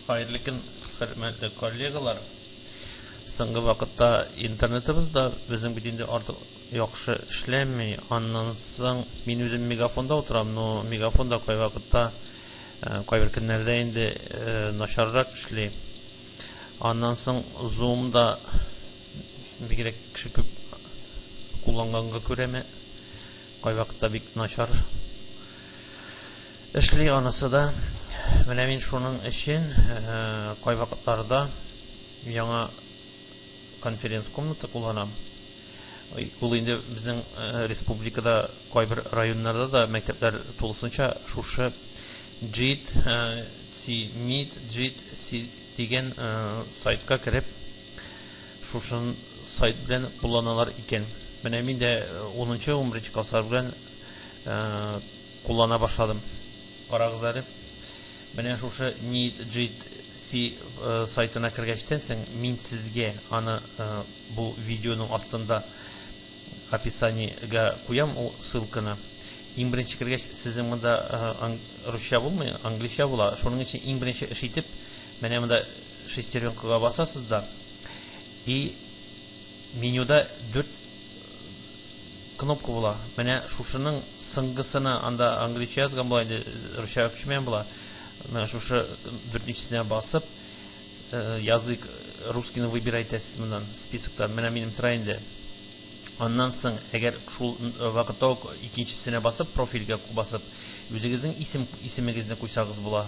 Хәерле көн, хөрмәтле коллегалар. Соңгы вакытта интернетыбыз да безнең бит инде артык яхшы эшләми. Аннан соң мин үзем мегафонда утырам, но мегафонда кайвакытта э, кайбер көннәрдә инде э, начаррак эшли. Аннан соң Zoom да бигрәк кеше күп кулланганга күрәме, кайвакытта бик начар эшли анысы да. Менә мин шуның өчен э, кайвакытларда яңа конференц-комната кулланам. Ул инде безнең э, республикада кайбер районнарда да мәктәпләр тулысынча шушы JIT, э, CMIT, JIT, C дигән э, сайтка кереп, шушын сайт белән кулланалар икән. Менә мин дә 10-11 класслар белән Куллана башладым. Карагыз әле. Менә шушы NeedJC э, сайтына кергәчтән соң мин сезгә аны э, бу видеоның астында описаниегә куям ул ссылканы. Иң беренче кергәч сезнең монда э, русча булмый, англича була. Шуның өчен иң беренче эш итеп менә монда шестеренкага басасыз да и Менюда дүрт кнопка була. Менә шушының сыңгысына, анда англича язган була, инде русча күчмәгән була. Менә шушы дүртенчесенә басып, э, язык русскийны выбирай итәсез моннан списоктан. Менә минем тора инде. Аннан соң, әгәр шул э, вакытта ук икенчесенә басып, профильгә басып, үзегезнең исем исемегезне куйсагыз була.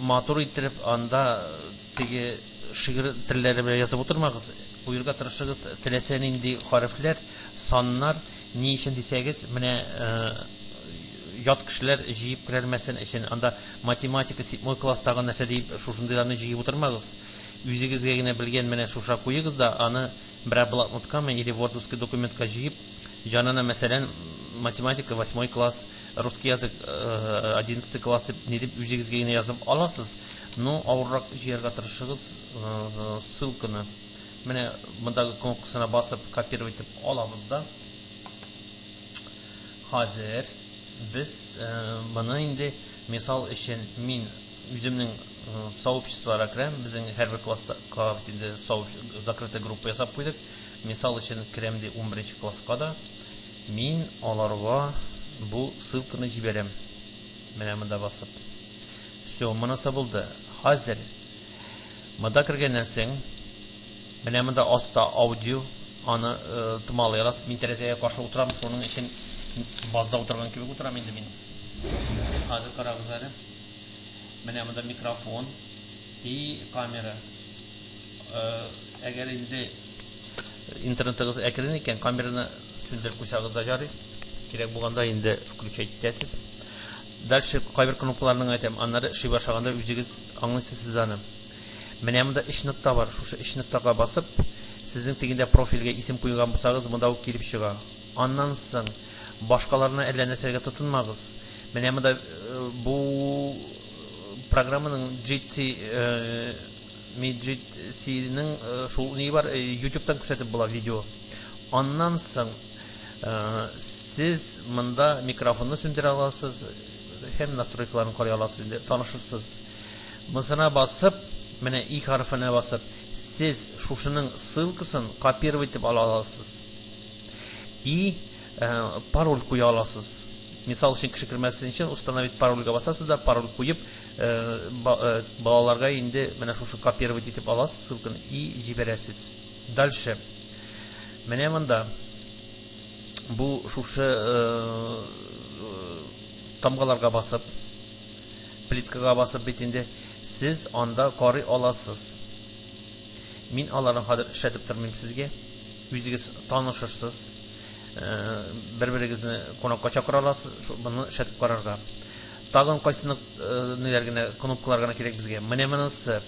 Матур иттереп анда теге шигырь телләре белән язып утырмагыз. Куерга тырышыгыз теләсә нинди хәрефләр, саннар. Ни өчен дисәгез, менә ят кешеләр җыеп керәлмәсен өчен анда математика, седьмой класстагы нәрсә дип шушындыйларны җыеп утырмагыз. Үзегезгә генә белгән менә шуша куегыз да, аны берәр блокноткамы или вордовский документка җыеп, җанына мәсәлән математика восьмой класс Русский язык одиннадцатый класс дип ни дип үзегезгә генә язып аласыз, но авыррак җыярга тырышыгыз ссылканы. Менә мондагы кнопкасына басып копировать итеп алабыз да. Хәзер без моны инде мисал өчен мин үземнең сообществоларга керәм, безнең һәрбер класста класс инде закрытый группа ясап куйдык. Мисал өчен керәм ди 11 класска да. Мин аларга бу ссылканы җибәрәм. Менә монда басып. Все, монысы булды. Хәзер монда кергәннән соң менә монда аста аудио аны э, томалый аласыз. Мин тәрәзәгә каршы утырам, шуның өчен базда утырган кебек утырам инде мин. Хәзер карагыз әле. Менә монда микрофон и камера. Э, әгәр инде Интернетыгыз әкрен икән, камераны сүндереп куйсагыз да ярый. Кирәк булганда инде включать итәсез. Дальше кайбер кнопкаларның әйтәм, аннары эшли башлаганда үзегез аңлыйсыз сез аны. Менә монда өч нокта бар. Шушы өч ноктага басып, сезнең тегендә профильгә исем куйган булсагыз, монда ук килеп чыга. Аннан соң башкаларына әллә нәрсәгә тотынмагыз. Менә монда э, бу э, программаның GT э, Меджитсинең э, шул ни бар, э, ютубтан күрсәтеп була видео. Аннан соң э, сез монда микрофонны сүндерә аласыз һәм настройкаларын карый аласыз инде, танышырсыз. Мысына басып, менә и хәрефенә басып, сез шушының ссылкасын копировать итеп ала аласыз. И пароль куя аласыз. Мисал өчен кеше кермәсен өчен установить парольгә басасыз да пароль куеп, балаларга инде менә шушы копировать итеп аласыз ссылканы и җибәрәсез дальше менә монда бу шушы тамгаларга басып плиткага басып бит инде сез анда карый аласыз мин аларны хәзер эшләтеп тормыйм сезгә үзегез танышырсыз бер берегезне кунакка чакыра аласыз моны эшләтеп карарга Тагын кайсы нык ниләр генә, кнопкалар гына кирәк безгә. Менә монысы.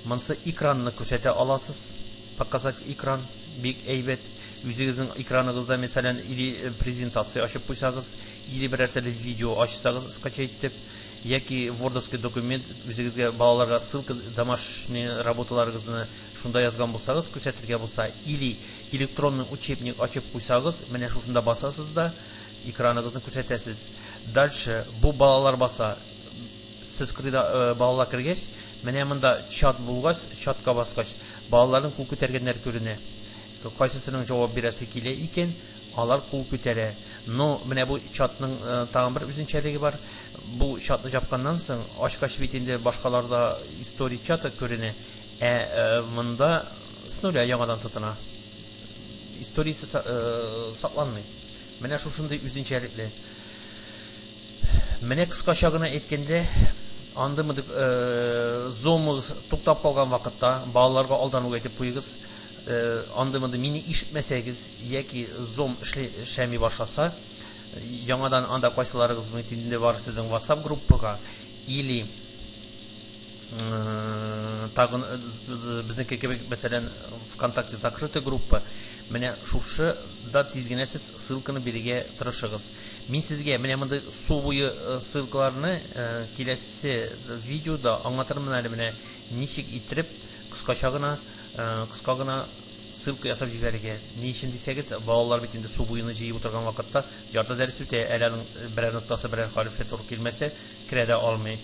Монысы экранны күрсәтә аласыз. Показать экран бик әйбәт. Үзегезнең экраныгызда, мәсәлән, или презентация ачып куйсагыз, или берәр төрле видео ачсагыз скачать итеп, яки вордовский документ үзегезгә балаларга ссылка домашний работаларыгызны шунда язган булсагыз, күрсәтергә булса, или электронный учебник ачып куйсагыз, менә шушында басасыз да Экраныгызны күрсәтәсез. Дальше бу балалар баса. Сез кырыйда э, балалар кергәч, менә монда чат булгач, чатка баскач, балаларның кул күтәргәннәре күренә. Кайсысының җавап бирәсе килә икән, алар кул күтәрә. Но менә бу чатның э, тагын бер үзенчәлеге бар. Бу чатны жапканнан соң, ачкач бит инде башкаларда история чаты күренә. Ә э, монда с нуля яңадан тотына. Историясе э, сакланмый. Менә шушындый үзенчәлекле. Менә кыскача гына әйткәндә, андый мындык э, зомыгыз туктап калган вакытта балаларга алдан ук әйтеп куегыз. Э, андый мынды мине ишетмәсәгез яки зом эшләми башласа, яңадан анда кайсыларыгыз мөмкин бар сезнең WhatsApp группага или тагын безнеке кебек мәсәлән вконтакте закрытый группа менә шушы да тиз генә сез ссылканы бирергә тырышыгыз мин сезгә менә мондый су буе ссылкаларны киләсе видеода аңлатырмын әле менә ничек иттереп кыскача гына кыска гына ссылка ясап җибәрергә ни өчен дисәгез балалар бит инде су буена җыеп утырган вакытта ярты дәрес үтә әле аның берәр ноктасы берәр хәрефе туры килмәсә керә дә алмый